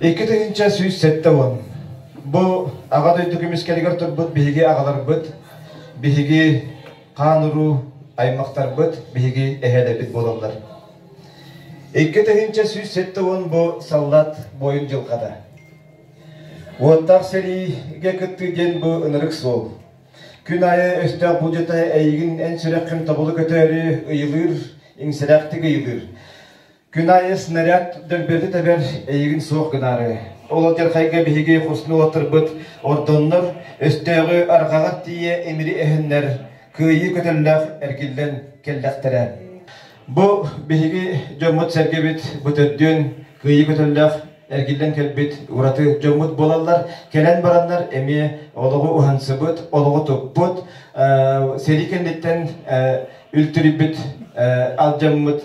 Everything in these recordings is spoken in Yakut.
Икки тыһыынча сүүс сэттэ уон. Бу Аҕа дойду көмүскэлигэр турбут биһиги аҕаларбыт, биһиги хаан-уруу аймахтарбыт, биһиги эһээлэрбит буолаллар. Икки тыһыынча сүүс сэттэ уон бу саллаат буойун дьылҕата. Уоттаах сэриигэ кыттыы диэн бу ынырык суол. Күн аайы өстөөх буулдьата эйигин эн сүрэххин тобулу көтөөрү ыйылыыр, иҥсирээхтик ыйылыыр. Күн аайы снаряд дөлбөтү тэбэр эйигин суох гынаары. Ол алдьархайга биһиги хосну олатырбыт ордоннор, өстөөҕү арҕаҕа тиийэ имири эһэннэр, кыайыы көтөллөөх эргиллэн кэллэхтэрэ. Бу биһиги дьоммут-сэргэбит бытырдыын кыайыы көтөллөөх эргиллэн кэлбит ураты дьоммут буолаллар. Кэлэн бараннар эмиэ олоҕу уһансыбыт, олоҕу туппут, сэрии кэнниттэн үлтүрүйбүт алдьаммыт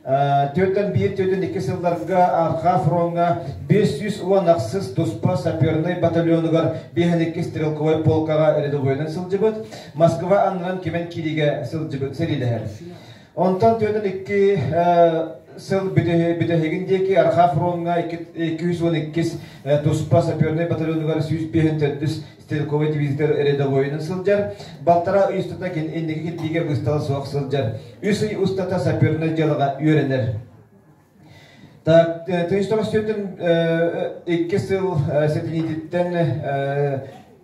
Түөртэн биир түөртэн икки сылларга Арха фроҥҥа бес сүүс уон ахсыс туспа сапернай батальонугар биэһэн иккис стрелковай полкаҕа рядовойынан сылдьыбыт. Москва аннынан Кимэн кириигэ сылдьыбыт сэриилэһэр. Онтон түөртэн икки сыл бүтэһигин диэки Арха фроҥҥа 202 туспа сапернай батальонугар сүүс биэһэн төрдүс стрелковай дивизитор рядовойунан сылдьар, балтараа ый устата кин инники кирбиигэ быстала суох сылдьар. Үс ый устата сапернай дьыалаҕа үөрэнэр. Так, тыйыстаҕа сүөтүн икки сыл сэтиниититтэн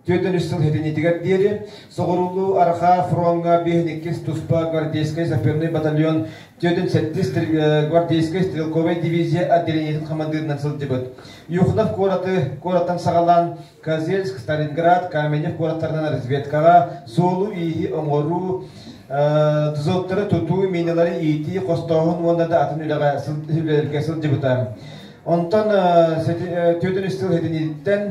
түөтөн үс сыл сэтиниитигэр диэри соҕуруулуу Арха фроҥҥа биэһин иккис туспа гвардейскай саперный батальон түөтүн сэттис гвардейскай стрелковай дивизия отделениетин хамандыырынан сылдьыбыт. Юхнов куораты куораттан саҕалаан Козельск, Сталинград, Каменев куораттарынан разведкаҕа суолу-ииһи оҥоруу, тузоктары тутуу, миналары иитии хостооһун уонна да атын үлэҕэ үлэлэргэ сылдьыбыта. Онтон түөртүн үс сыл этиниттэн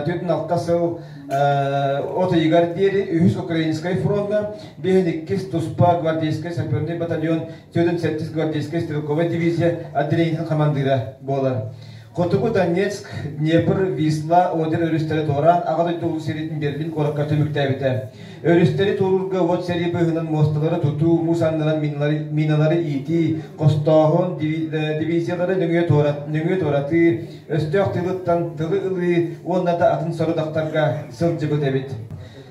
түөртүн алта сыл от ыйыгар диэри үһүс Украинскай фронна, биэһин иккис туспа гвардейскай саперный батальон, түөртүн сэттис гвардейскай стрелковай дивизия отделениетин хамандыыра буолар. Хотугу Донецк, Днепр, Висла, Одер өрүстэрэ туораан Аҕа дойду улуу сэриитин Берлин куоракка түбүктээбитэ. Өрүстэри туоруурга уот сэрии быыһынан муосталары тутуу, муус аннынан миналары иитии, хостооһун, дивизиялары нөҥүө туоратыы, өстөөх тылыттан тылы ылыы уонна да атын сорудахтарга сылдьыбыт эбит.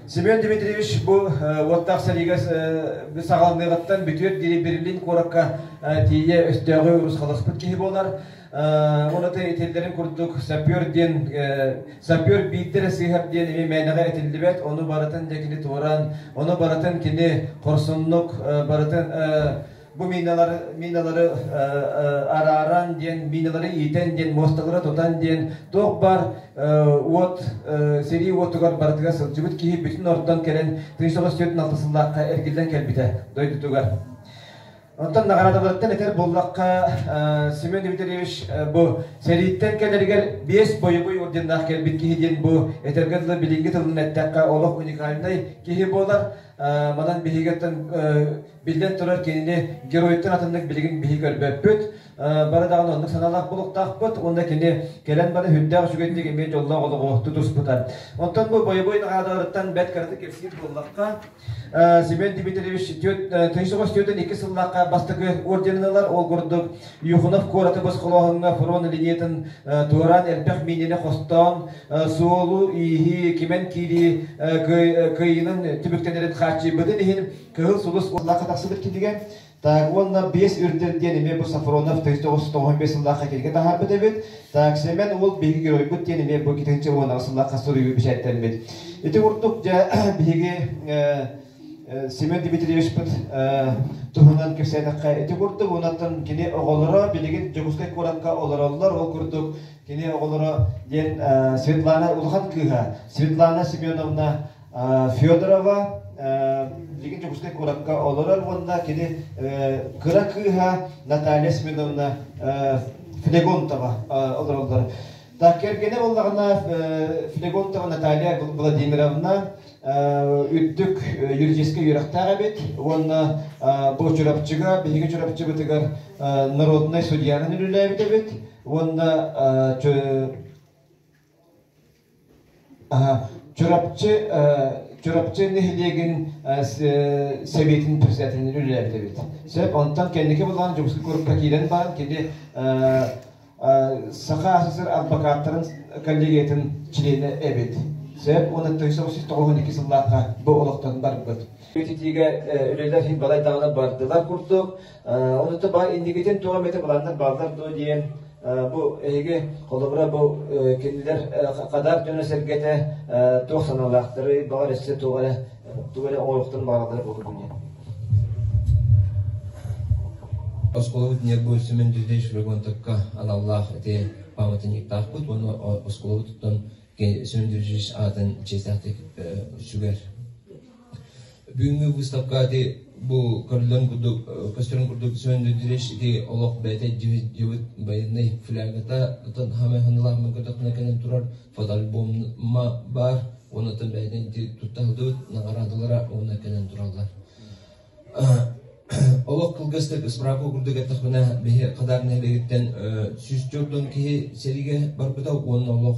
Семен Дмитриевич бу уоттаах сэриигэ саҕаланыаҕыттан бүтүөр диэри Берлин куоракка тиийэ өстөөҕү урусхаласпыт киһи буолар. ураты этиллэрин курдук саппер диэн саппер биирдэрэ сыыһар диэн эми мээнэҕэ этиллибэт ону барытын дьэ кини туораан ону барытын кини хорсуннук барытын бу мииналары мииналары арааран диэн мииналары иитэн диэн муосталары тутан диэн туох баар уот сэрии уотугар барытыгар сылдьыбыт киһи бүтүн ортон кэлэн тыын соҕус түөрт алтысыллаахха эргиллэн кэлбитэ дойдутугар Онтон наҕараадаларыттан этэр буоллахха, Семен Дмитриевич бу сэрииттэн кэлэригэр биэс бойобуй орденнаах кэлбит киһи диэн бу этэргэ дылы билиҥҥи тылынан эттэххэ олох уникальнай киһи буолар. Манан биһиги биллэн турар кинини геройуттан атыннык билигин биһи көрбөппүт. Бары даҕаны оннук санаалаах буолуохтаахпыт уонна кини кэлэн бары үрдээх үчүгэйдик эмиэ дьоллоох олоҕу тутуспута. Онтон бу бойобуй наҕараадаларыттан бэрт кыратык кэпсиир буоллахха, Семен Дмитриевич тыйыс оҕо үстүөтүн икки сыллаахха бастакы орденын ылар. Ол курдук Юхунов куоратыбыс холооһуҥҥа фрон линеятын туораан элбэх миинэни хостоон суолу-ииһи, кимэн киирии кыайыынын түмүктэнэрин хааччыйбытын иһин Кыһыл Сулус сыллаахха тахсыбыт кинигэ Так, уонна биэс үрдүн диэн эмиэ бу Сафронов тыйыс тоҕус тоҕуһун биэс сыллаахха кинигэ таһаарбыт эбит. Так, Сэмэн уол биһиги геройбут диэн эмиэ бу итинчи уон аҕыс сыллаахха суруйуу бэчээттэммит. Ити курдук дьэ биһиги э, э, Семен Дмитриевичпыт э, туһунан кэпсээтэххэ ити курдук уонаттан кини оҕолоро билигин Дьокуускай куоракка олороллор ол курдук кини оҕолоро диэн э, Светлана улахан кыыһа Светлана Семеновна Федорова Дьиҥин Дьокуускай куоракка олорор уонна кини кыра кыыһа Наталья Семеновна Флегонтова олороллор. Так кэргэнэ буоллаҕына Флегонтова Наталья Владимировна үрдүк юридическай үөрэхтээх эбит уонна бу Чурапчыга биһиги Чурапчыбытыгар народнай судьяны үлэлээбит эбит уонна Чурапчы Чурапчы нэһилиэгин Сэбиэтин председателинэн үлэлээбит эбит. Сөп, онтон кэнники былаан Дьокуускай куоракка киирэн баран кини Саха СССР адвокаттарын коллегиятын чилиэнэ эбит. Сөп, уонна 1992 сыллаахха бу олохтон барбыт. Итиигэ үлэлэр иһин балайдаҕына бардылар курдук. Ол отто баа индигитин туох эмэтэ планнар бааллар дуо диэн бу эһиги холобура бу кинилэр хадаар дьоно сэргэтэ туох санаалаахтары баҕар эссе туох эрэ тугу эрэ оҥорохтон бааллар буолур диэн оскуолабыт ньиргуй Семен Дюдевич Фрегонтовка аналлаах ити памятниктаахпыт уонна оскуолабыттан Семен Дюдевич аатын чиэстээхтик сүгэр бүгүҥҥү выставка ити бу көрүллэн курдук көстөрүн курдук сөндүдүреш ити олох бэйэтэ дьыбыт байыннай флягата отон хамыһынылаахмын көтөхне кэнэн турар фотоальбомма бар онутан бэйэтин туттаһылдыбыт наҕараадалара уонна кэнэн тураллар олох кылгастык ыспыраапа курдук эттэхпинэ биһи хадарнай бэйиттэн сүүс төрдөн киһи сэриигэ барбыта уонна олох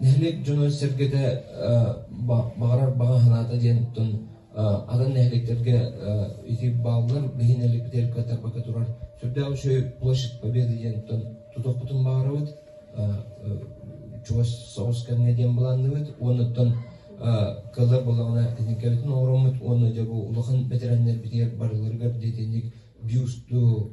Нэһилиэк дьоно-сэргэтэ баҕарар баҕа санаата диэн оттон атын нэһилиэктэргэ ити бааллар, билигин дэлэккэ-тарбакка турар Сүрдээх үчүгэй площадь Победы диэн оттон тутуохпутун баҕарабыт. Чугас соҕус кэмҥэ диэн былаанныбыт уонна оттон кыллар буоллаҕына техникабытын оҥороммут уонна дьэ бу улахан бэтэрээннэрбитигэр барыларыгар дэтинник бюсту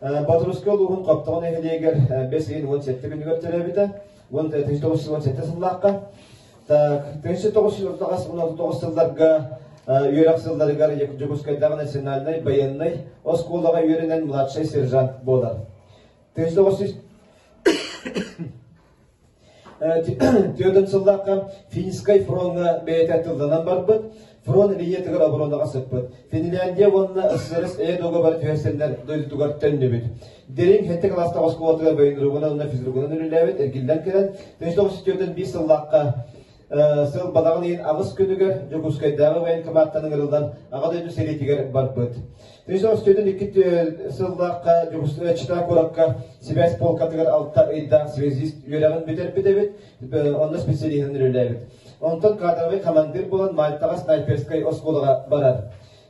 Батурскай улууһун Хаптаҕын нэһилиэгэр бэс ыйын уон сэттэ күнүгэр төрөөбүтэ. Уон тыһыынча тоҕус сыл уон сэттэ сыллаахха. Так, тыһыынча тоҕус өлөртаҕас уон алты тоҕус сылларга үөрэх сылларыгар Дьокуускайдааҕы национальнай байыаннай оскуолаҕа үөрэнэн младшай сержант буолар. Тыһыынча тоҕус Түөтөн сыллаахха Финскай фроҥҥа бэйэтэ тылланан барбыт. Фрон Венетыгар оборонаҕа сыппыт. Финляндия уонна СССР эйэ договор түһэрсэннэр дойдутугар төннүбүт. Дириҥ Хэнтэ кылаастаах оскуолатыгар военругунан уонна физругунан үлэлээбит, эргиллэн кэлэн, 1995 сыллаахха сыл балаҕан иһин аҕыс күнүгэр Дьокуускайдааҕы военкоматтан ыҥырыллан Аҕа дойду сэриитигэр барбыт. Тыйыс остуйдун икки сыллаахха Чита куоракка сибээс полкатыгар алта ыйдаах связист үөрэҕин бүтэрбит эбит, онно специалиһынан үлэлээбит. Онтон кадровый командир буолан Мальтаҕа снайперскай оскуолаҕа барар.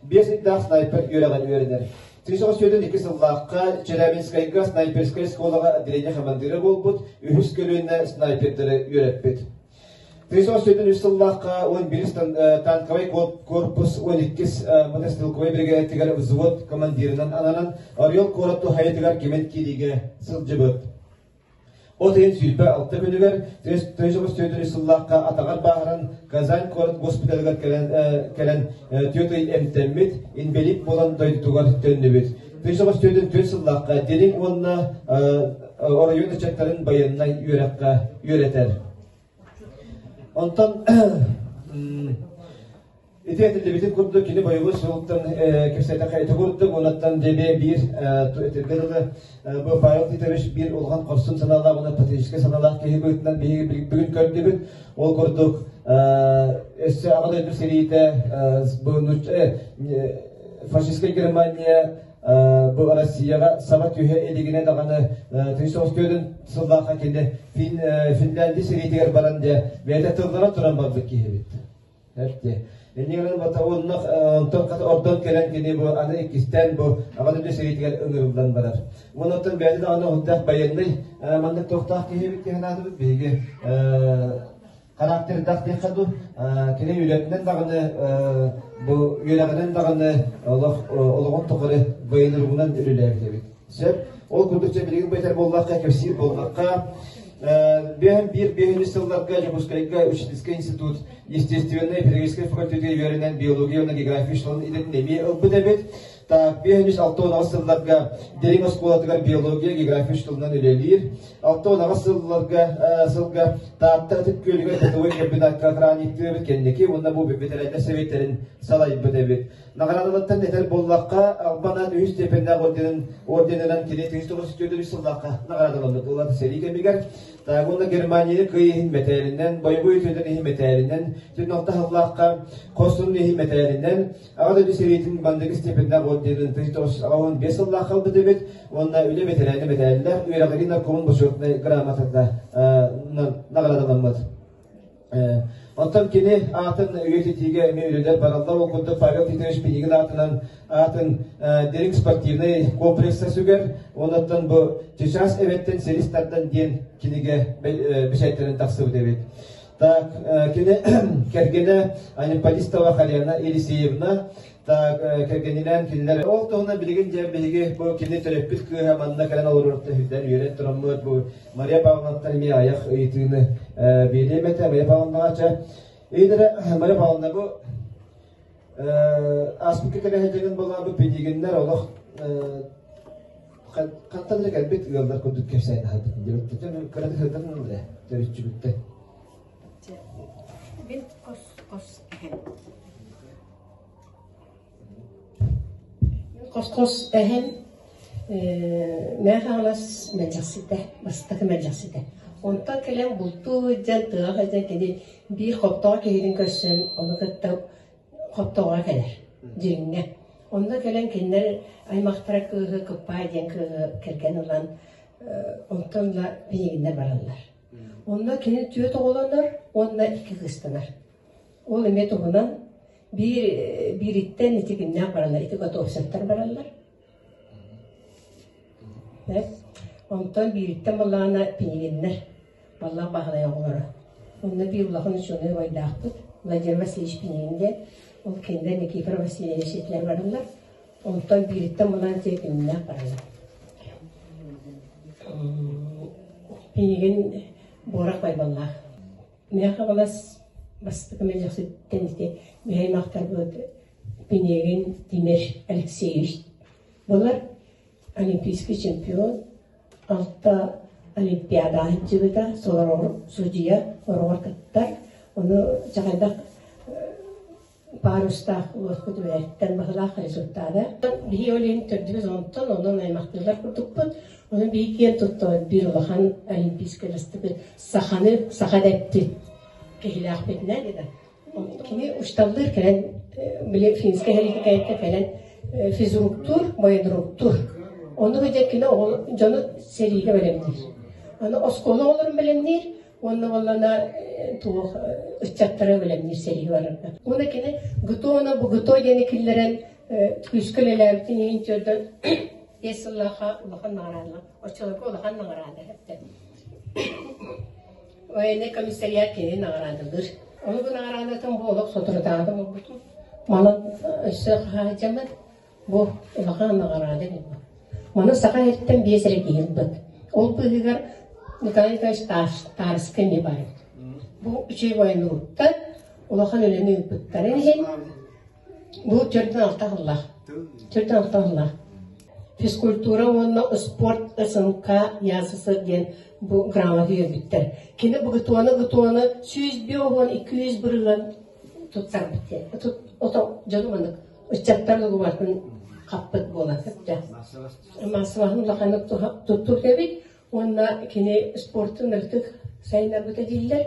биэс ыйдаах снайпер үөрэҕин үөрэнэр. Сүүс аҕыс сүүрдэн икки сыллаахха Челябинскайга снайперскай оскуолаҕа отделение командира буолбут, үһүс көлүөнэ снайпердары үөрэппит. Сүүс аҕыс сүүрдэн үс сыллаахха он бирис танковай корпус он иккис мотострелковай биригээдэтигэр взвод командирынан ананан Орел куорат туһайытыгар кимэн киириигэ сылдьыбыт. От ыйын сүүрбэ алта күнүгэр Тойсоҕос Түөтүрүс сыллаахха атаҕар бааһыран Казань куорат госпиталыгар кэлэн, кэлэн түөрт ый эмтэммит, инбэлиит буолан дойдутугар төннүбүт. Тойсоҕос Түөтүн түөрт сыллаахха дириҥ уонна оройуон ыччаттарын байыаннай үөрэххэ үөрэтэр. Онтон ити этиллибитин курдук, кини бойобуой суолуттан кэпсэтэххэ ити курдук, уонаттан дьэбиэ биир этиргэ дылы бу Павел Титович биир улахан хорсун санаалаах уонна патриотическай санаалаах киһи быһыытынан биһиги бүгүн көрдүбүт. Ол курдук өссө Аҕа дойду сэриитэ фашистская Германия бу Россияҕа саҥа түһэ илигинэ даҕаны тыйыс остуодун сыллаахха кини Финляндия сэриитигэр баран дьэ бэйэтэ тыллара туран барбыт киһибит. Эпти. Иннигинэн бата оннох онтон ордон кэлэн кини бу аны иккистэн бу аҕаны дү сэриитигэр ыҥырыллан барар. Онуттан бэйэтэ даҕаны худдаах байыаннай маннык тохтаах киһибит диэн аатыбыт биһиги характердах диэххэ дуу кини үөрэтинэн даҕаны бу үөрэҕинэн даҕаны олох олоҕун тухары байылыгынан үлэлээбит сөп ол курдук билигин байтар буоллахха кэпсиир буоллахха бэһэн биир бэһинис сылларга Дьокуускайга учительский институт естественнай педагогическай факультетка үөрэнэн биология уонна география шларын идэтин эмиэ ылбыт эбит Биэс үс алта уонаҕас сылларга Дириҥ оскуолатыгар биология, география тылынан үлэлиир. Алта уонаҕас сылларга, сылга Тааттар Ытык Күөлүгэр бытовой комбинатка краниктыыбыт кэнники уонна бу ветеринар сэбиэттэрин салайбыт эбит. Наҕараадалыттан этэр буоллахха, Албанан үһүс степеннээх орденын орденынан кини 1994 сыллахха наҕараадаланбыт ыллата сэрии кэмигэр Уонна Германияны кый иһин мэтээлинэн, бойобуй өтөтөн иһин мэтээлинэн, түн алта халлаахха хостунун иһин мэтээлинэн, Аҕа дойду сэриитин Бандыгы степеннээх отделын тыһы тоҕус аҕа уон биэс сыллаах халбыт эбит уонна үлэ бэтэрээнэ бэтээллээх үөрэҕирии наркомун бочуотунай грамотата наҕарадаламмыт. Оттон кини аатын үйэтитиигэ эмиэ үлэлэр баралла ол курдук Павел Титович Пинигин аатынан аатын дириҥ спортивнай комплекса сүгэр онуттан бу Чычаас эбэттэн силис тардан диэн кинигэ бэчээттэрин тахсыбыт эбит. Так, кини кэргэнэ Аниппатистова Халена Елисеевна так кэргэнинээн кинилэр ол туһунан билигин дьэ биһиги бу кини төрөппүт кыыһа манна кэлэн олорор түһүллэн үөрэн тураммыт бу Мария Павловнаттан эмиэ айах ыйытыыны биэриэм этэ Мария Павловнаҕа Эйдэрэ Мария Павловна бу ааспыкка кэрэһэтинин болаа бу педигиннэр олох хаттан да кэлбит ыаллар курдук кэпсээн аһардым диэбиттэн кырата сырдатан да төрүччүбүттэн Мин кос кос эһэм. Кос кос эһэм Мәхаалас мэлдьэхситэ, бастакы мэлдьэхситэ. Онтон кэлэн бултуу дьэн тыаҕа дьэн кини биир хоптоох киһитин көрсөн, ону кытта Хоптоҕо кэлэр, дьиҥҥэ. Онно кэлэн кинилэр аймахтара кыыһы Кыппаай диэн кыыһы кэргэн ылан онтон ыла билигиннэр бараллар. Онно кини түөрт оҕолонор уонна икки кыыстанар. Ол эмиэ туһунан биир биириттэн итигиннээх бараллар, ити Готовцевтар бараллар. Онтон биириттэн балаҕана пингиннэр Баллаах Баһылайа оҕолоро. Онно биир улахан учуонай убайдаахпыт Владимир Васильевич Пинин диэн, ол кинилэр Никифор Васильевич ситиһэн бараннар, онтон биириттэн мунаан дьиэ күннээх баралар. Пинигин Буорах Байбаллаах. Мээхаҕалас бастыкы мэлэхситтэн ити Михайловтарбыт Пинегин Тимир Алексеевич. Булар олимпийский чемпион, алта олимпиада аһынчыбыта, солороҕор судьуйа ороҕор кыттар. Ону чахайдах парустаах уоскут үөрэттэн баһылаах результата. Биһи олин төрдүбүз онтон онон аймактыылар курдукпут. Ону биһи киэн туттар бир улахан олимпийскай астыбыт саханы саха деппит киһилээхпитинэ Кини учталлыыр кэлэн били финскэ сэртификээккэ кэлэн физруктуур, боедруктуур. Ону сылдьа кини оҕол дьону сэриигэ бэлэмниир. Аны оскуола оҕолорун бэлэмниир уонна уоллана туох ыччаттары бэлэмниир сэриигэ барарга. Уонна кини ГТО-на бу ГТО диэни киллэрэн күүскэ үлэлээбитин иһин төрдө биэс сыллаахха улахан наҕараада, оччолорго улахан наҕараада эттэ. военный комиссариат киһи наҕараадалыыр. Омук наҕараадатын бу олох соторутааҕы оҥорбутум. Манан өссө хаһаайдьаммыт бу улахан наҕараада эбит. Маны Саха эртэн биэс эрэ киһи ылбыт. Ол быыһыгар Николай Николаевич Староска эмиэ баар. Бу үчүгэй военнугуттан улахан үлэни ыыппыттарын иһин Бу төрдүн алта аһыллар. Төрдүн алта аһыллар. Физкультура уонна спорт СНК ЯССР диэн бу грамота үөрбүттэр. Кини бгтуона-гтуона сүүс биэ уһуон икки жүз бырыылан туттарбыт диэн. Ото дьону маннык ыччаттар дугубартын хаппыт буолан сытта. Массабаһын улаханнык туттук эбит уонна кини спортун ырытык сайынарбыта дииллэр.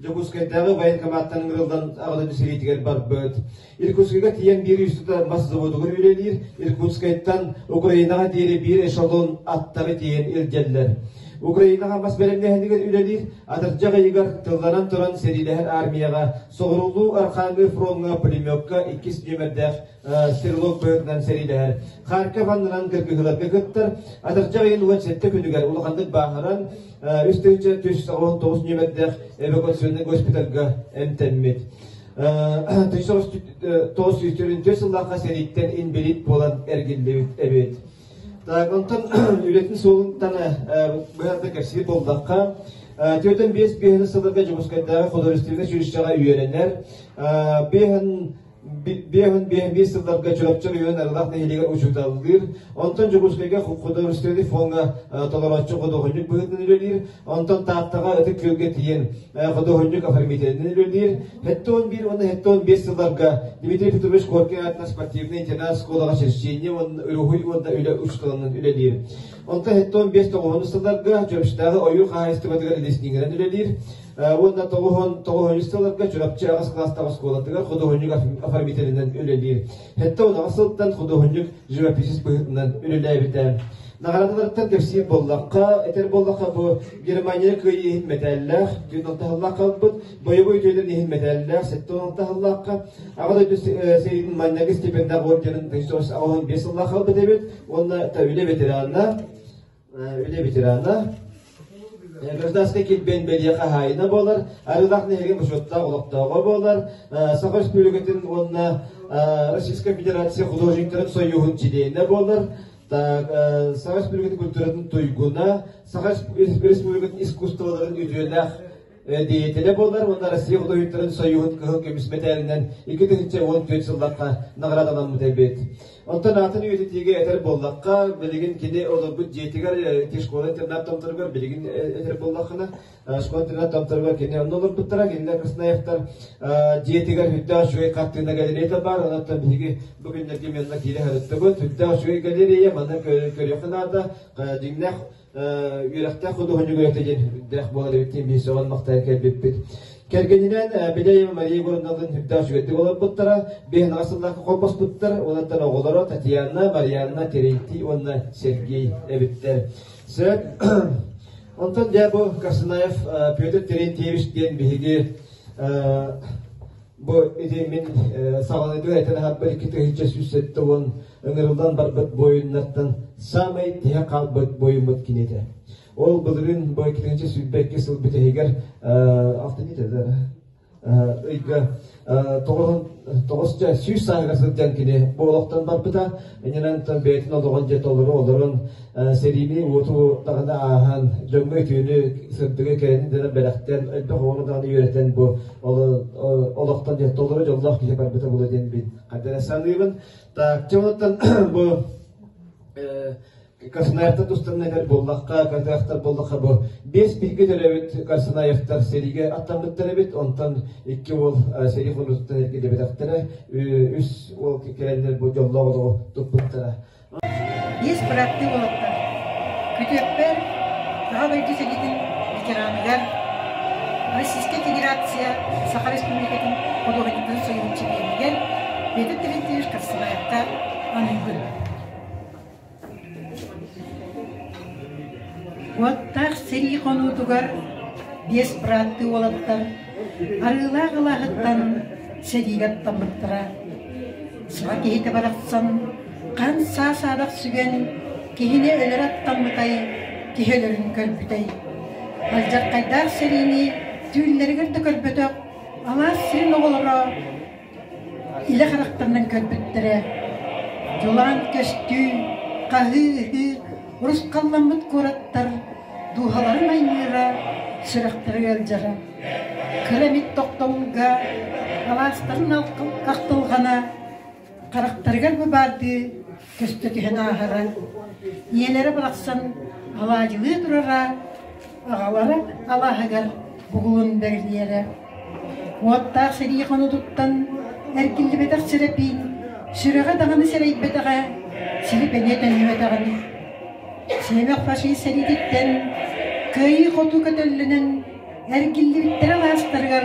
Дьокуускайдааҕы военкоматтан ыҥырыллан аҕалыны сэриитигэр барбыт. Иркутскайга тиийэн биир үстэ мас заводугар үлэлиир. Иркутскайтан Украинаҕа диэри биир эшелон аттары тиэйэн илдьэллэр. Украинаҕа мас бэлэмнэһинигэр үлэлиир, атырдьах ыйыгар тылланан туран сэриилэһэр армияҕа соҕуруулуу Архангел фроҥҥа пулеметка иккис нүөмэрдээх стрелок быһытынан сэриилэһэр. Харков аннынан кыргыһыыларга кыттар. Атырдьах ыйын уон сэттэ күнүгэр улаханнык бааһыран, үс тыһыынча түс тоҕус тоҕус ньүмэрдээх эвакуационный госпитальга эмтэммит. Тыйыс тоҕус сүүс төрүнтүс сыллаахха сэрииттэн инбилит буолан эргиллибит эбит. Так, онтон үлэтин суолунтан быһарда кэпсиир болдахха, Түөтэн биэс биэһин сылларга Дьокускайдааҕы художественнай училищеҕа үөрэнэр. Биэһин биэс уон биэс сылларга Чурапчы оройуон Арылах нэһилиэгэр учууталлыыр. Онтон Дьокуускайга Ходорственный фоҥҥа толорооччу ходоохонньук быһыытынан үлэлиир. Онтон Тааттаҕа Ытык Күөлгэ тиийэн ходоохонньук оформителинэн үлэлиир. Хэттэ он биир уонна хэттэ он биэс сылларга Дмитрий Петрович Коркин аатынан спортивнай интернат-оскуолаҕа черчение уонна уруһуй уонна үлэ учууталынан үлэлиир. Онтон иһиттэн биэс тоҕоһону ыстатарга, Чөмчтээҕи ойуур хаһаайыстыбатыгар илиснигирэн үлэлиир уонна тоҕоһон тоҕоһонньусталарга Чурапчы аҕыс кылаастаах оскуолатыгар худуоһунньук оформителинэн үлэлиир. Хэттэ унаҕас сылтан худуоһунньук живописец быһыытынан үлэлээбитэ. Наҕараадаларыттан кэпсиир буоллахха, этэр буоллахха бу Германия кыайыы мэтээллээх, түүн алтыһаллаах халбыт, боевой дьиэлэр иһин мэтээллээх сэттэ уон таһыллаахха аҕа дойду сэриитин манньагы степендээх орденын ресурс аҕалан биэс сыллаах ылбыт эбит уонна үлэ ветерана үлэ ветерана гражданскай килбээн бэлиэ хаһаайына буолар арыылаах нэһилиэгин бочуоттаах олохтооҕо буолар саха республикатын уонна российскай федерация художниктарын союһун чилиэнэ буолар саха республикатын культуратын туйгуна саха республикатын искусстволарын үтүөлээх Деятеля буолар уонна Россия бутуйуттарын союһун кыһыл көмүс мэтээлинэн икки тыһынча уон түөрт сыллахха наҕарадаламмыт эбит. Оттон аатын үйэтитиигэ этэр боллахха, билигин кини олорбут дьиэтигэр ити школа-интернат томторугар билигин этэр боллаххына, школа-интернат томторугар кини онно олорбуттара, кинилэр Красноевтар дьиэтигэр үрдээх жуй хартыына галереята бар, онуттан биһиги бу күннэргэ манна киирэ харыттыбыт, үрдээх жуй галерея, манна көрүөххэ наада, дьиҥнээх үөрэхтээх худуоһунньук үөрэхтэ диэн үрдээх буолар эбит диэн биир сөҕөн махтайа кэлбиппит. Кэргэнинээн Бидай Мария Горунналын үрдээх үчүгэйдик олорбуттара, биэһнаҕа сыллаахха холбоспуттар, онон оҕолоро Татьяна, Марианна, Терентий уонна Сергей эбиттэр. Сөп. Онтон дьэ бу Карсанаев Петр Терентьевич диэн биһиги Бу итимин саҕаны түһэтэн аһаппыт икки тыһыча сүүс сэттэ уон ыҥырыллан барбыт буойуннартан саамай тиһэ хаалбыт буойуммут кинитэ. Ол былырын бу иккитинчи сүүрбэкки сыл бүтэһигэр ыйга тоҕус сүүс сааһыгар сылдьан кини бу олохтон барбыта. инэнэнтэн бэйэтин олоҕун дьэ толору олорон сэриини уоту даҕаны ааһан дьоҥҥо өтүүнү сырдыга кэрэнин дэнэ бэлэхтэн элбэх оҕону даҕаны үөрэтэн бу олохтон дьэ толору дьоллоох киһи барбыта буолуо диэн мин хардана саныыбын так дьэ онуттан бу Косноевтар тустарына этэр буоллахха, кырдыахтар буоллахха бу биэс бииргэ төрөбүт Корсунаевтар сэриигэ аттаммыттар эбит, онтон икки уол сэрии хонуутуттан эргиллибэтэхтэрэ, үс уол кэлэннэр бу дьоллоох олоҕу туппуттара. Биэс бырааттыы уолаттар Күтүөппэр Саха дойду сэриитин ветераныгар Российская Федерация Саха Республикатын худуоһунньуктарын союзун чилиэнигэр Петр Терентьевич Корсунаевка аныыбын. Куоттаах сэрии хонуутугар биэс бырааттыы уолаттар Арыылаах алааһыттан сэриигэ аттаммыттара. Саха киһитэ барахсан хаан саа саадах сүгэн киһини өлөрө аттаммытай түһөлөрүн көрбүтэй. Алдьархайдаах сэриини түүллэригэр да көрбөтөх алаас сирин оҕолоро илэ харахтарынан көрбүттэрэ дьулаан көстүү, хаһыы-ыһыы урусхалламмыт куораттар дууһаларын айгыыра, сүрэхтэрэ ыалдьара, кыра эмит тохтобулга алаастарын ахтылҕана харахтарыгар быбаардыы көстө түһэн ааһара, ийэлэрэ барахсан алаадьылыы турара, аҕалара алааһыгар бугулун бэрилиэрэ. Уоттаах сэрии хонутуттан эргиллибэтэх сирэпиин сүрэҕэ даҕаны сэрэйбэтэҕэ, сири бэлиэ төннүбэтэҕин. Сиэмэх фашист сэриититтэн кыайыы хоту көтөллөнөн эргиллибиттэрэ алаастарыгар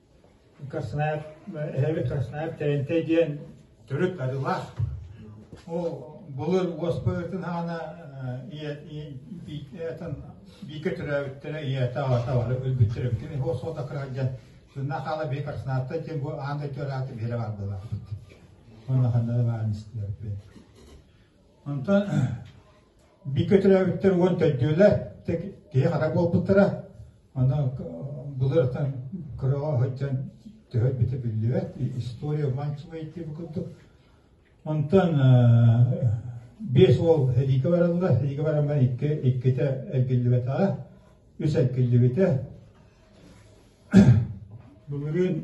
Краснодар, эһэбит Краснодар Тэрилтэ диэн төрүт арыылаах. Ол былыр уоспуйатын хаана биикэ төрөөбүттэрэ ийэтэ-аҕата бары өлбүттэрэ бүтүн иһ суода кыралдьан Сынна хаала би Краснодарта диэн бу аан дойду арааты биһирэ бардылаахпыт. Онно ханна да баарын истилэрпин. Онтон бииргэ төрөөбүттэр уон төрдүөлэ киһи хата буолбуттара. Аны былыртан кыраҕа сылдьан төһө битэ биллибэт, история манчылай диэн курдук. Онтон биэс уол эдиигэ бараллар, эдиигэ бараммар икки, иккитэ эргиллибэтэҕэ, үс эргиллибитэ. Былырыын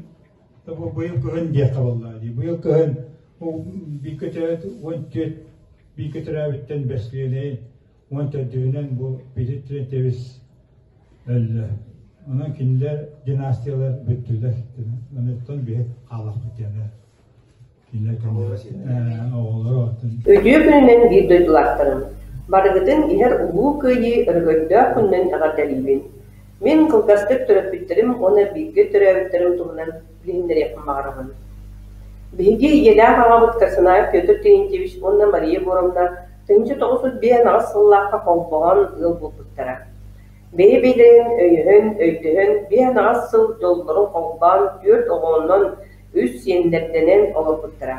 быйыл кыһын диэххэ буоллаҕа дии. Быйыл кыһын бии көтөөт уон түөрт бии көтөрөөбүттэн бэстилиэнэйин уон төрдүһүнэн бу Петр Трентьевич өллө. Онон кинилэр династиялар бүттүлэр. Оттон биһи хаалахпыт диэнэ. Үтүө күнүнэн биир дойдулаахтарым! Барыгытын иһэр Улуу Кыайыы өрөгөйдөөх күнүнэн эҕэрдэлиибин! Мин кылгастык төрөппүттэрим уонна бииргэ төрөөбүттэрим туһунан билиһиннэриэхпин баҕарабын. Биһиги ийэлээх аҕабыт Корсанаев Петр Терентьевич уонна Мария Егоровна тыһыынча тоҕус сут биэһин аҕыс сыллаахха холбоон ыал буолбуттара. Бэйэ-бэйэлэрин өйөһөн, өйдөһөн биэһин аҕыс сыл дьоллорун холбоон түөрт оҕооннон үс сиэннэрдэнэн олорбуттара.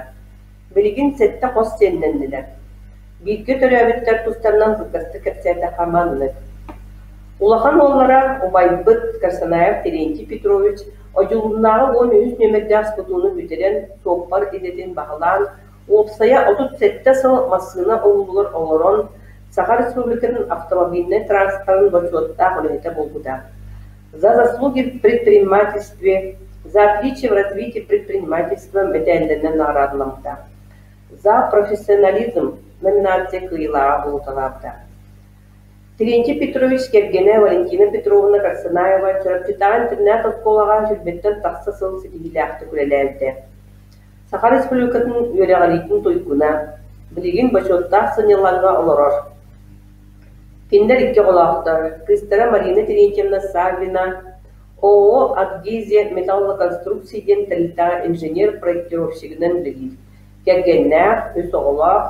Билигин сэттэ хос сиэннэннилэр. Бииргэ төрөөбүттэр тустарынан быыкастык кэпсээтэххэ маннык. Улахан уоллара, убайбыт Корсанаев Терентий Петрович одьулуннааҕы уон үһүс нүөмэрдээх скутууну бүтэрэн, суоппар идэтин баһылаан, уопсайа отут сэттэ сыл массыына уруулугар олорон, Саха Республикатын автомобильнай транспорын бочуоттаах үлэһитэ буолбута. За заслуги в предпринимательстве, за отличие в развитии предпринимательства мэтээллэринэн наараатыламмыта. За профессионализм номинация кыйылааҕа буолуталаабыта. Терентий Петрович кэргэнэ Валентина Петровна Карсанаева Чурапчытааҕы интернат-олкуолаҕа сүүрбэттэн тахса сыл ситиһиилээхтик үлэлээбитэ. Саха Республикатын үөрэҕириитин туйгуна, билигин бочуоттаах сынньалаҥҥа олорор. Кинилэр икки оҕолоохтор, кыыстара Марина Терентьевна Саввина ООО «Адгезия металлоконструкций» диэн тэрилтэҕэ инженер-проектировщигынан үлэлиир, кэргэннээх, үс оҕолоох.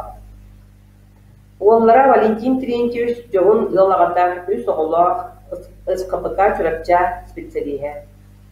Уоллара Валентин Терентьевич дьоһун ыал аҕата, үс оҕолоох, СКПК Чурапча специалиһа.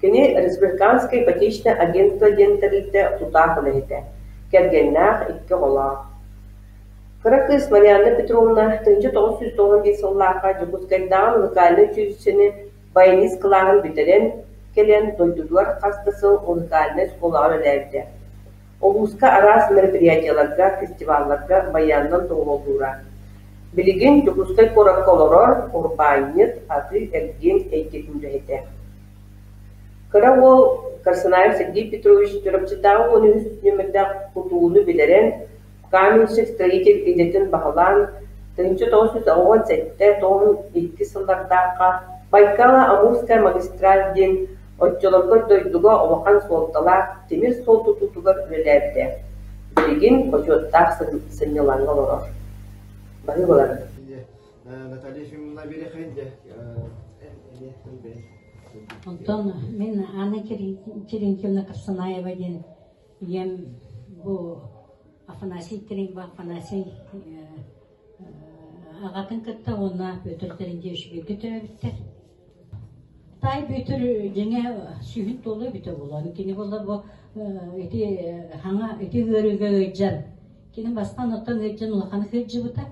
Кини Республиканскай ипотечнай агентство диэн тэрилтэ тутаах үлэһитэ, кэргэннээх, икки оҕолоох. Кыра кыыс Марианна Петровна тыһыынча тоҕус сүүс тоҕон биир сыллаахха Дьокуускайдааҕы муникальнай училищены баянист кылааһын бүтэрэн кэлэн, дойдутугар хас да сыл муникальнай оскуолаҕа үлэлээбитэ. Улууска араас мероприятиеларга, фестивалларга байыаннан туруоруллуура. Билигин Дьокуускай куоракка олорор урбаанньыт, атыы-эргиэн эйгэтин үлэһитэ. Кыра уол Корсунаев Сергей Петрович Чурапчытааҕы уон үһүс нүөмэрдээх тутууну билэрэн, Каменщик строитель идэтин баһылаан, тыһыынча тоҕус сүүс оҕоҕун сэттэ тоҕун икки сыллардаахха Байкала Амурская магистраль диэн оччолоргор дойдуга улахан суолталаах тимир суол тутуутугар үлэлээбитэ. Билигин бочуоттаах сынньалаҥҥа олорор. Баһыылалар. Наталья Ефимовна Берехенде, Онтон мин Анна Терентьевна Касанаева диэн ийэм бу Афанасий Треньба Афанасий аҕатын кытта уонна Бүөтүр Тэринdiэ үчүгэйгэ төрөөбүттэр. Тай Бүөтүр дьиҥэ сүһүн толу бүтө булан. Кини болла бу ити хаҥа ити ыарыыга ыйджан. Кини бастан оттон ыйджан улахан кырдьыбыта.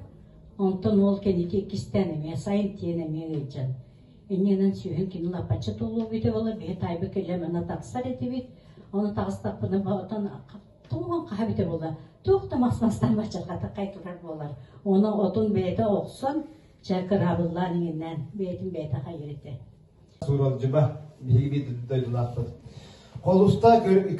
Онтон ол кэнити иккистен эмиэ сайын тиэн эмиэ ыйджан. Иннинэн сүөһүн кини лапачча туллубуйда буолар биһи таайба кэлем ана тахсар этибит. Оны таҕыстаппына оттон тугун хаһа бүтэ була туох да махсастан мачаргата кайтылар буолар. Оны отун бэйэтэ охсон чэ кыраабыллаан иҥиннэн бэйэтин бэйэтэ хайырыты. Сууралжыба биһиги дойдулаахпыт. Холуста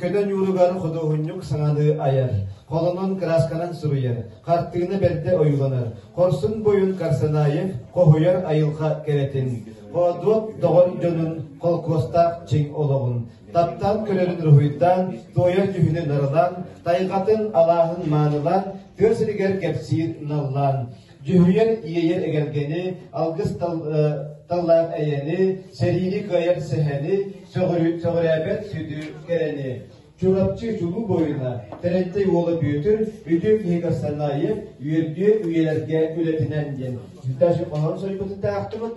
көтөн ууругар худуоһунньук саҥаны айар, холонон кыраасканан суруйар, хартыына бэрдэ ойууланар, хорсун бойун Карсанаев хоһуйар айылҕа кэрэтин, боодуот доҕор дьонун холкуостаах чиҥ олоҕун, таптаан көрөрүн уруһуйдаан, туойар дьүһүнү нарылаан, тайҕатын алааһын маанылаан, тыа сиригэр кэпсиир наллаан, Дьүһүйэн иэйэр эгэлгэни, алгыс таллаах эйэни, сэриини кыайар сэһэни, сөҕүрээбэт сүдү кэрэни. Чурапчы чулуу буойуна, Тэрэнтэй уола Бүөтүр, үтүө киһи Кастанаев, үөрдүө үйэлэргэ үлэтинэн диэн. Сүтээш хоһоон сойбуту таахтыбыт.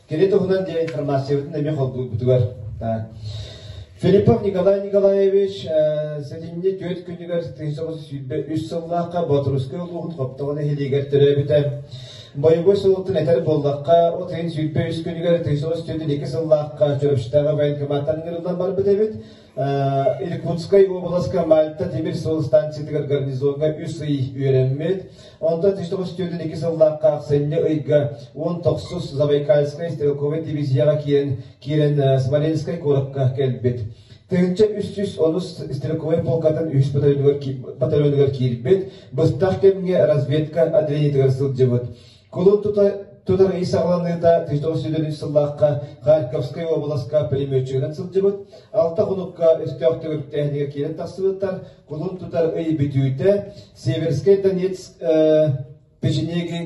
Кини туһунан диэн информациябытын эмиэ холбууппутугар. Филиппов Николай Николаевич сэтинньи түөрт күнүгэр тыһы соҕус сүүрбэ үс сыллаахха Боторускай улууһун Хоптоҕо нэһилиэгэр төрөөбүтэ. Боевой суолтан этэр боллахха, от ыйын сүүрбэ үс күнүгэр тыһы соҕус түөрт ике сыллаахха Чөрөштааҕы военкоматтан ыҥырыллан барбыт эбит. Иркутскай обласка Мальта тимир суол станциятыгар гарнизоҥҥа үс ый үөрэммит. Онтон Тиштоҕу студентин икки сыллаахха ахсынньы ыйга он тохсус Забайкальскай стрелковай дивизияҕа киирэн, киирэн Смоленскай куоракка кэлбит. Тыһыынча үс сүүс онус стрелковай полкатын үһүс батальонугар, батальонугар киирбит. Быстах кэмҥэ разведка отделениетыгар сылдьыбыт. Кулун тута тутар ый саҕаланыыта Титов сүдүрүн сыллаахха Харьковскай уобаласка пулеметчигынан сылдьыбыт, алта хонукка өстөөх төгүрүктээһинигэр киирэн тахсыбыттар, кулун тутар ый бүтүүтэ Северскай Донецк печенеги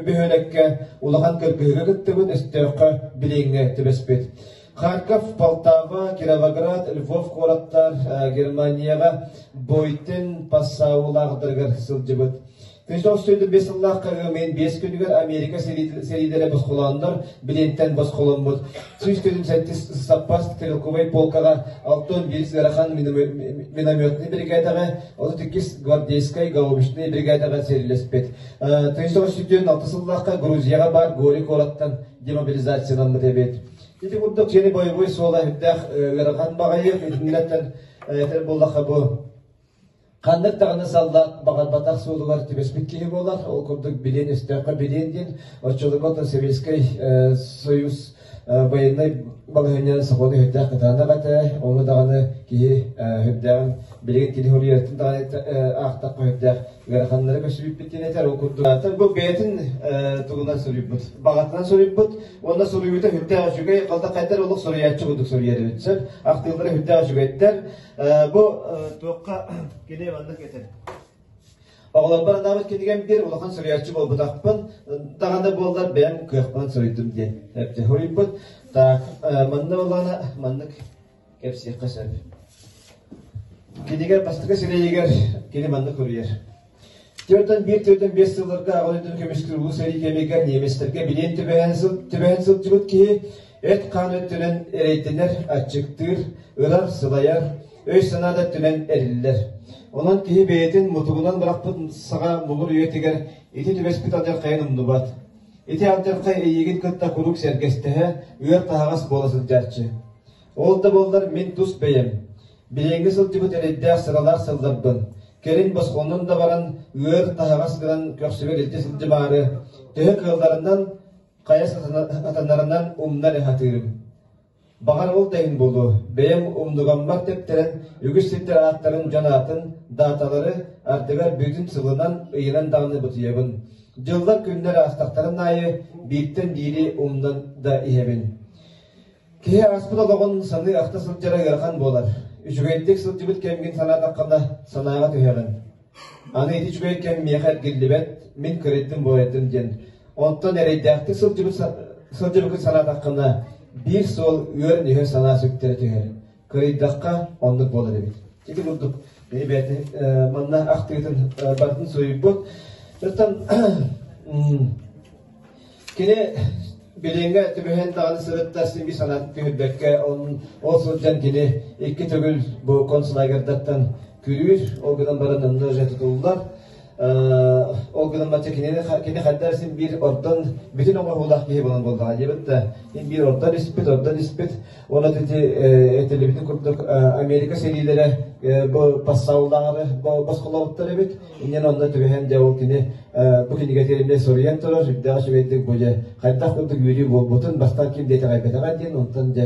бөһүөлэккэ улахан кыргыһыга кыттыбыт, өстөөххө билиҥҥэ түбэспит. Харьков, Полтава, Кировоград, Львов куораттар Германияҕа Бойтен пассаулаахтарыгар сылдьыбыт. Үс оҕус сүүрдэ биэс сыллаах карыамыйын биэс күнүгэр Америка сэриилэрэ босхолооннор, билиэнтэн босхоломмут. Сүүс күнүн сэттис саппас стрелковай полкаҕа алты он биирис ыарахан минометнай биригээдэҕэ, отут иккис гвардейскай гаубичнай биригээдэҕэ сэрилэспит. Тыйыс оҕус сүүрдүөн алты сыллаахха Грузияҕа баар Гори куораттан демобилизациянаммыт эбит. Ити курдук сиэни бойобуой суола үрдээх ыарахан баҕайы итиннэттэн этэр буллахха бу Ханнык даҕаны саллаат баҕарбатах суолугар түбэспит киһи буолар. Ол курдук билиэн өстөөххө билиэн диэн оччолорго то Советскай э, Союз э, военнай балаһыанньа сокуону өһүрдээх кытаанах этэ. Ону даҕаны киһи э, үрдээҕин билигин кини хоруйатын даҕаны аахтахха үрдээх ыараханнары көсүбүппүттэн этэр. Ол курдук бу бэйэтин тугунан суруйбут. Баҕатынан суруйбут. Уонна суруйуута үрдээх үчүгэй. Халтах этэр олох суруйааччы курдук суруйар сөп. Ахтыылары үрдээх үчүгэйдэр. Бу туохха кини маннык этэр. Оҕолорбор анаабыт кинигэм бир улахан суруйаччы буолбутахпын, даҕаны буоллар бэйэм кыахпын суруйдум диэн суруйбут. Так, манна боллана маннык кепсиэххэ сөп. Кинигэр бастакы сирэйигэр кини маннык суруйар. Түөртэн биир түөртэн биэс сылларга Аҕа дойдутун көмүскүүр улуу сэрии кэмигэр ниэмистэргэ билиэн түбэһэн сыл, түбэһэн сылдьыбыт киһи эт-хаан өттүнэн эрэйдэнэр, аччыктыыр, ырар, сылайар, өй-санаа да өттүнэн эриллэр. Онон киһи бэйэтин мутугунан бырахпыт саҕа муҥур үйэтигэр ити түбэспит алдьархайын умнубат. Ити алдьархай эйиигин кытта куруук сэргэстэһэ, ыар таһаҕас буола сылдьааччы. Ол да буоллар мин тус бэйэм. Билиҥҥи сылдьыбыт эрэйдээх сыралаах сылларбын, кэлин босхолонон да баран, ыар таһаҕас гынан көхсүгэр илдьэ сылдьымаары, төһө кыалларынан, хайа сатанарынан умнар ыһатыырым. Баҕар ол да иһин буолуо, бэйэм умнугаммар тэптэрэн үгүс сирдэр ааттарын дьон аатын, дааталары ардыгар бүтүн сылынан ыйынан даҕаны бутуйабын. Дьыллар күннэр аастахтарын аайы бииртэн биири умнан да иһэбин. Киһи ааспыт олоҕун саныы-ахта сылдьара ыарахан буолар. Үчүгэйдик сылдьыбыт кэмгин санаатаххына, санааҕа түһэҕин. Аны ити үчүгэй кэм миэхэ эргиллибэт, мин кыайдым буолайдым диэн. Онтон эрэйдээхтик сылдьыбыт сылдьыбыккын санаатаххына, биир суол үөр-нүһү санаа сүктэрэ түһэр. кыайдахха оннук буолар эбит. Ити курдук бэйи бэйэтэ манна ахтыытын барытын суруйбут. Оттон кини билиҥҥэ түбэһэн даҕаны сырытта сиби санаатын түһүрбэккэ ол сылдьан кини икки төгүл бу концлагердаттан күрүүр, ол гынан баран ынны же тутуллар. Ол гынан бачча кинини кини хайдах син биир ордон бүтүн оҥоһуулаах киһи буолан буоллаҕа диэбит да син биир ордон испит ордон испит уонна ити этилибитин курдук Америка сэриилэрэ бу пассаллаары босхолообуттар эбит инньэн онно түбэһэн дьэ ол кини бу кинигэ тиэринэ соруйан турар үрдээх үчүгэйдик бу дьэ хайдах курдук үөрүү буолбутун бастаан ким диэтэҕэйбэтэҕэ диэн онтон дьэ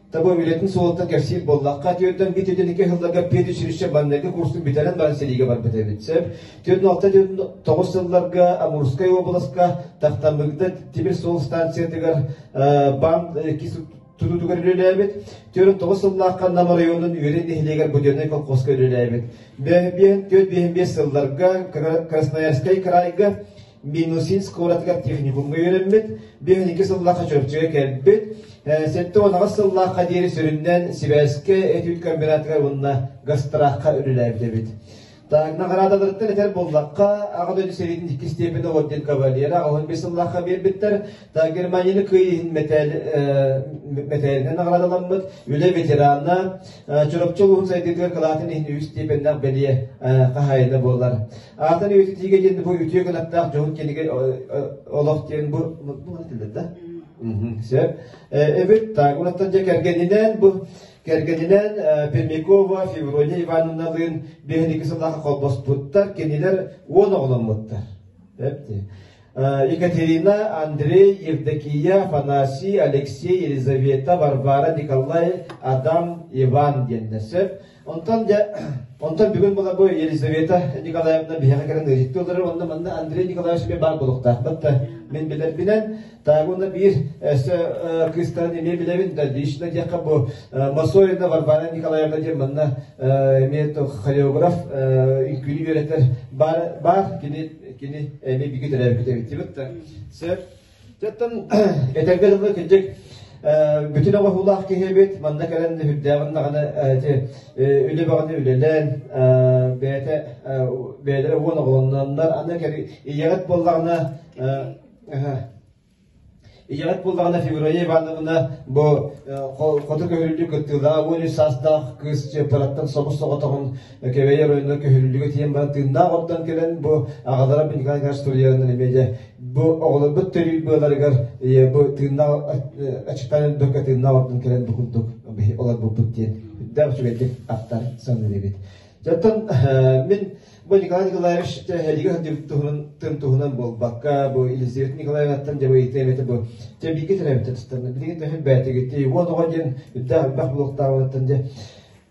Таба үлэтин суолтан кэпсиир буоллахха, түөртэн биир түөртэн икки сылларга педучилище маннайгы курсун бүтэрэн баран сэриигэ барбыт эбит. Сөп. Түөрт алта түөрт тоҕус сылларга Амурскай областка тахтаммыгда тимир суол станциятыгар бам тутуутугар үлэлээбит. Түөрт тоҕус сыллаахха Нам оройуонун Үөрэн нэһилиэгэр буденнай колхозка үлэлээбит. Түөрт биэһин биэс сылларга Красноярскай крайга Минусинск куоратыгар техникумҥа үөрэммит, биһиги икки сыллаахха Чөрчөгө кэлбит, сэттэ уонаҕас сыллаахха диэри сүрүннээн сибээскэ этүүт комбинатыгар уонна гастраахха үлэлээбит эбит. Так, наҕараадаларыттан этэр буллахха, аҕа дойду сэриитин иккис степені орден кавалера аҕыһын бес сыллаахха бербиттер. Так, Германияны кыйыһын металинен наҕараадаламмыт, үлэ ветерана, Чурапчы улуһун сайдыытыгар кылаатын иһин үс степеннэх бэлиэ хаһайына болар. Аатын үйэтитиигэ диэн бу үтүө кынаттаах дьоһун кинигэ олох диэн бу муну этилэр да? Сөп. Эбит так, унаттан же кэргенинен бу кэргенинен Пельмякова Феврония Ивановналыын биһиги сылаха холбоспуттар, кинилер уон оҕломмуттар. Сөп Екатерина, Андрей, Евдокия, Афанасий, Алексей, Елизавета, Варвара, Николай, Адам, Иван диэннэр. Сөп Онтон дьэ, онтон бүгүн была бу Елизавета Николаевна биһиэхэ кэлэн ыйытты олорор онно манна Андрей Николаевич эмиэ баар буолуохтаахпыт да мин билэрбинэн таагуна биир кыыстарын эмиэ билэбин да лично диэххэ бу Масоевна Варвара Николаевна диэн манна эмиэ хореограф үҥкүүнү үөрэтэр баар баар кини кини эмиэ биги төрөөбүт эбиттибит да сөп Чаттан этэргэ дылы кырдьык бүтүн оҕоһуулаах киһи эбит. Манна кэлэн үрдээҕин даҕаны үлэ бөҕөнү үлэлээн бэйэтэ бэйэлэрэ уон оҕолонноннор аны кэри ийэҕит буоллаҕына ийэҕит буоллаҕына Феврония Ивановна бу хоту көһүрүллүү кыттыылаах уон үс саастаах кыыс чыппыраттан собус соҕотоҕун Кэбэй оройунан көһөрүллүгэ тиийэн баран тыыннаах оттон кэлэн бу аҕалара Николай Ильич Тулиянын эмиэ бу оҕолорбут төрүүр быаларыгар бу тыыннаах аччыктаан өлбөккө тыыннаах оттон кэлэн бу курдук олорбуппут диэн үрдээх үчүгэйдик аттар саныыбыт. Жаттан мин бу Николай Николаевич эдиги туһунан тым туһунан буолбакка бу Елизавета Николаевнаттан дьабайыты эмете бу тэбиигэ тэлэбитэ тустарна билигин төһө бээтигити уон оҕо диэн үрдээх үрбэх булуктаабыттан дьэ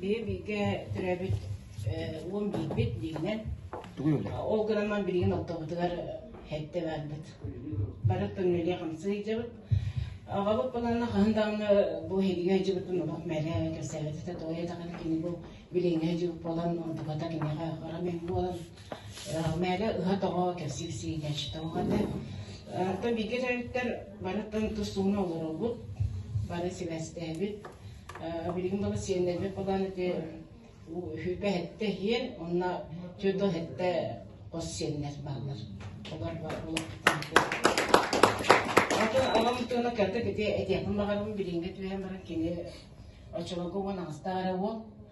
Биһи бииргэ төрөөбүт уом биирбит бииринэн, ол гынан билигин ортобутугар эһэтэ барбыт. Бары тымныыга хамсыы сылдьабыт. Аҕабыт балана хаһан даҕаны бу эһиги ыйдьыбытын олох мэлэ кэпсээбит этэ, тоҕо диэтэххинэ кини бу билиҥҥи ыйдьыбыт буолан, онтуката киниэхэ хара мэҥ буолан, Мээгэ ыһа тоҕо кэпсик-сии кэчитоҕо этэ. Арта бигирэриттэр бары тустууна олоробут, бары сибэстээбит. Билигин бала сиэннэрбит балаан ити үһүпэ эттэ иһиэн, онна түөрдө эттэ хос сиэннэр бааллар. Олор Атын алам тыына кэрдик ити этиэхпин баҕарабын билиҥҥи түһэн баран кини очолорго уон астаара уол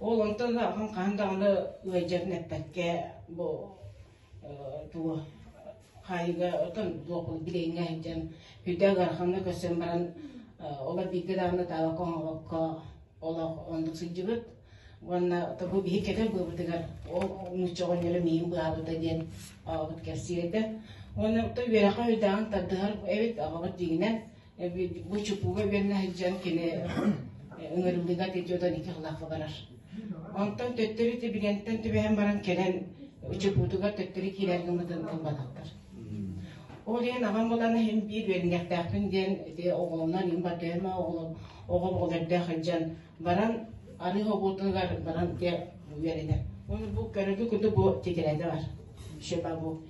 Ол онтон аҕам хаһан даҕаны ыалдьарын эппэккэ бу туо хаайыыга отон туох билиҥҥэ сылдьан үрдэ ыараханна көрсөн баран олор бииргэ даҕаны таабакка оҥорбокко олох оннук сылдьыбыт уонна бу биһи кэтэр быыбытыгар ол нуучча оҕонньоро миин быһаабыта диэн аҕабыт кэпсиирэ да уонна то үөрэххэ үрэҕин тардыһар эбит аҕабыт дьиҥинэн бу чупууга үгэннэ сылдьан кини ыҥырыллыыга отойдан ити сылаахха барар. Онтон төттөрү тибигэнтэн түбэһэн баран кэлэн чупуутугар төттөрү киирэр гыммытын ылбатахтар. Ол иһин аҕам булан иһин биир үөрүннэхтээхпин диэн ити оҕолонон им батыама оҕолом оҕом оҕолордоох сылдьан баран арыы обуотугар баран дэ үөрэнэр. Ону бу көрөргө куду бу титирэтэ бар. Шепа бу.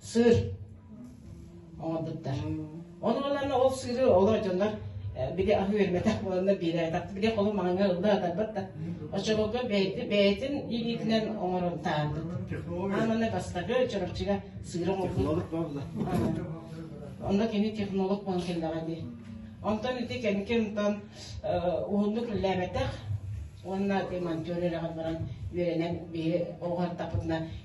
сыр оҥорбуттар. Ол буоллар ол сыры олор дьоннор били аһыы эрмэтэх буоланнар биэрээтэх били холум маҥаҥа ылла атарбат да оччолорго бэйти бэйэтин илиитинэн оҥорумтаабыт аананы бастакы чороччуга сыыра технолог буолла онно кини технолог буолан келлэҕэ дии онтон ити кэники онтон уһуннук үллээбэтэх уонна монтер үрэҕэр баран үөрэнэн биһи оҕар тапытына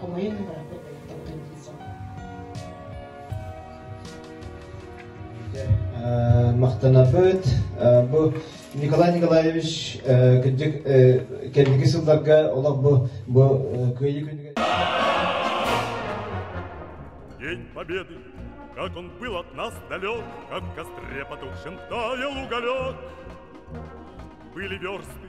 хомойон да барахпыт болаттардан махтанабыт бу Николай Николаевич күндүк кэнники сылларга олох бу бу кыайыы күнүгэр День Победы! Как он был от нас далек, как к остре потухшим таял уголек. Были версты,